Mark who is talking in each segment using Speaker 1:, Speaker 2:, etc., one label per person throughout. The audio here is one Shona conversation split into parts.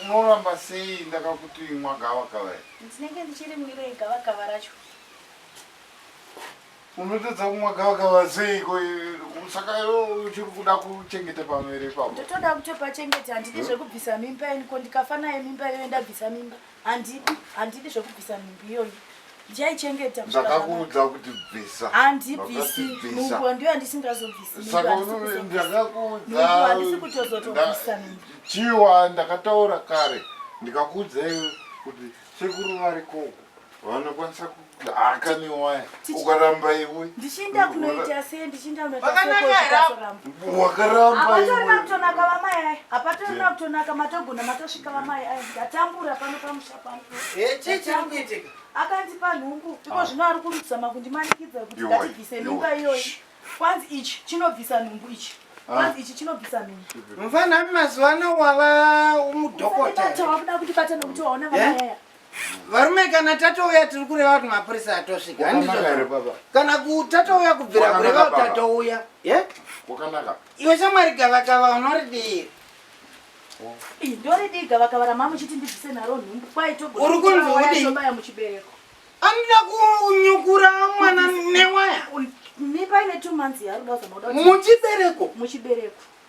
Speaker 1: unoramba sei ndakakuti imwa gavakava iri ndinenge ndichirimwirei gavakava racho unotadza kumwa gavakava seiko saka uchiri kuda kuchengeta pamwere ipapo ndotoda kutopachengeta handidi zvekubvisa mimba ini ko ndikafa naye mimba iyoyo ndabvisa mimba handidi handidi zvekubvisa nhumbi iyoyi ndichaichengeta kusvika ndakakuudza zvanaka. kuti bvisa handibvisi Wakatibvisa. nhumbu ndiyo handisingazobvisi nhumbu saka handisi unovi- kuzobvisa. ndakakuudza Nhumbu handisi kutozotobvisa nda- nhumbu. chiwa ndakataura kare ndikakuudzai kuti sekuru varikoko vanokwanisa ku- akaniwaya ukaramba iwe ndichinda kunoita sei ndichinda kunoitawakarambaatonaka vamai aya apatonaka kutonaka matogona matosvika vamai aya ndatambura pano pamusha pano akandipa nhumbu iko ah. zvino ari kurutisa makundimanikidza kuti ndatibvise mimba iyoyi kwanzi ichi chinobvisa nhumbu ichi Ah. ichi chinobvisa mii mfanami mazuva ano wava mudhokotawakuda kutibata nokuti waona vaayaa eh? varume kana tatouya tiri kureva kuti mapurisa atosvika handizvo kana tatouya kubvira kureva kuti tatouya iwe shamwari gavakava unoridii ndoridii gavakava ramamuchiti ndibvise naro nhumbu kwaitoguri kunzwaudibaya muchibereko anoda kunyukura mwana newaya muchibereko muchibereko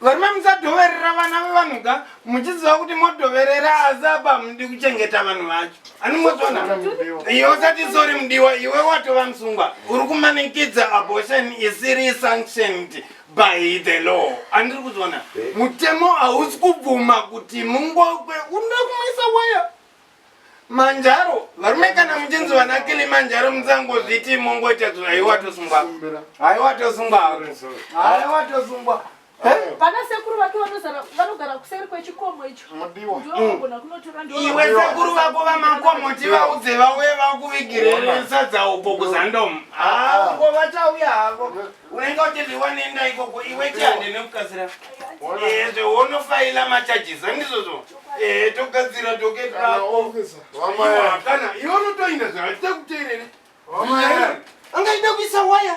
Speaker 1: Varume musadhoverera vana vevanhu ka muchiziva kuti modhoverera asi apa hamudi kuchengeta vanhu vacho. Anongozvona iwe usati sori mudiwa iwe watova musungwa uri kumanikidza abortion isiri sanctioned by the law andiri kuzvona mutemo hausi kubvuma kuti mungokwe unoda kumwisa waya manjaro varume kana muchinzi vana kilimanjaro musangozviti mongoita zvinhu haiwa tosungwa haiwa tosungwa haiwa tosungwa pana sekuru vake vanogara kuseri kwechikomo icho ndiogona kunotora iwe sekuru vako vamakomo tivaudze vauye vakuvigirere sadza uko kuzandomu ah, ah. ngo vachauya havo Unenge uchiti wanenda ikoko iwe chihande nekukasira. Eh, zve wonofaila macharges andizvozvo. Eh, togadzira docket rako. Wamaya. Kana iwe unotoinda zve achita kuteerera. Wamaya. Angaida kuisa waya.